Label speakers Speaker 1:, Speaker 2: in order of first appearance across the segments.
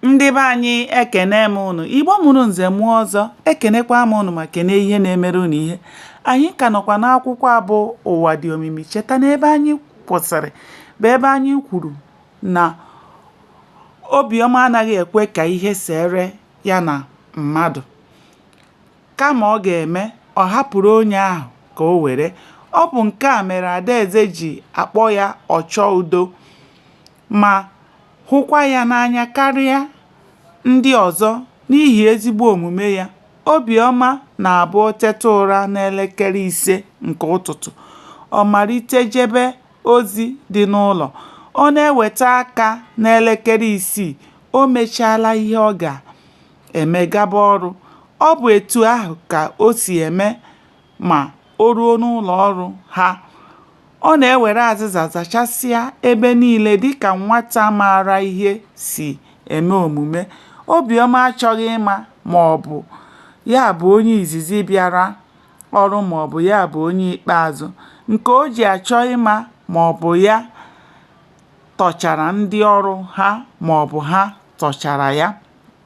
Speaker 1: Ndị be anyị ekene m ụnụ, Igbo mụrụ nze mụọ ọzọ, ekenekwa m ụnụ ma kene ihe na-emere ụnụ ihe. Anyị ka nọkwa n'akwụkwọ a bụ Ụwa dị omimi. Cheta na ebe anyị kwụsịrị bụ ebe anyị kwuru na Obiọma anaghị ekwe ka ihe seere ya na mmadụ. Kama ọ ga-eme, ọ hapụrụ onye ahụ ka o were. Ọ bụ nke a mere Adaeze ji akpọ ya ọchọ udo. ma hụkwa ya n'anya karịa ndị ọzọ n'ihi ezigbo omume ya. Obiọma na-abụ o teta ụra n'elekere ise nke ụtụtụ, ọ malite jebe ozi dị n'ụlọ. Ọ na-eweta aka n'elekere isii, o mechaala ihe ọ ga-eme gaba ọrụ. Ọ bụ etu ahụ ka o si eme ma o ruo n'ụlọ ọrụ ha, ọ na-ewere azịza zachasịa ebe niile dịka nwata maara ihe si eme omume. Obiọma achọghị ịma ma ọ bụ ya bụ onye izizi bịara ọrụ ma ọ bụ ya bụ onye ikpeazụ. Nke o ji achọ ịma ma ọ bụ ya tọchara ndị ọrụ ha ma ọ bụ ha tọchara ya.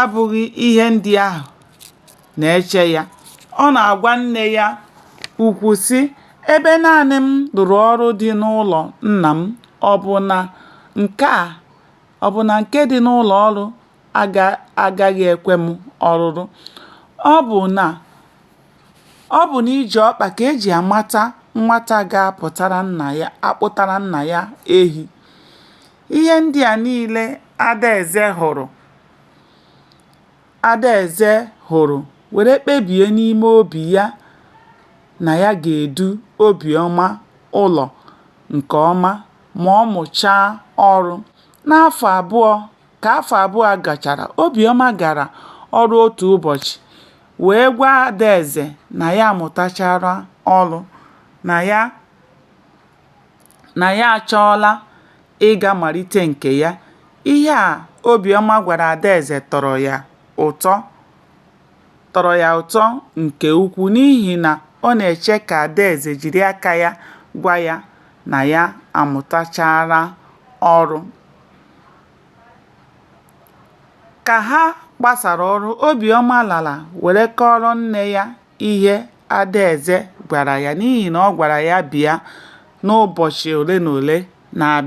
Speaker 1: abụghị ihe ndị ahụ na-eche ya. Ọ na-agwa nne ya ukwu, sị, Ebe naanị m rụrụ ọrụ dị n'ụlọ nna m, ọ bụ na nke a ọ bụ na nke dị n'ụlọ ọrụ agaghị ekwe m ọrụrụ? Ọ bụ na ọ bụ n'iji ọkpa ka e ji amata nwata ga-akpụtara nna ya ehi? Ihe ndị a niile Adaeze hụrụ Adaeze hụrụ were kpebie n'ime obi ya na ya ga-edu Obiọma ụlọ nke ọma ma ọ mụchaa ọrụ. N'afọ abụọ, ka afọ abụọ gachara, Obiọma gara ọrụ otu ụbọchị wee gwa Adaeze na ya amụtachaala ọrụ, na ya na ya achọọla ịga malite nke ya. Ihe a Obiọma gwara Adaeze tọrọ ya ụtọ tọrọ ya ụtọ nke ukwu n'ihi na ọ na-eche ka Adaeze jiri aka ya gwa ya na ya amụtachaala ọrụ. Ka ha gbasara ọrụ, Obiọma lara were kọọrọ nne ya ihe Adaeze gwara ya n'ihi na ọ gwara ya bịa n'ụbọchị ole na ole na-abịa.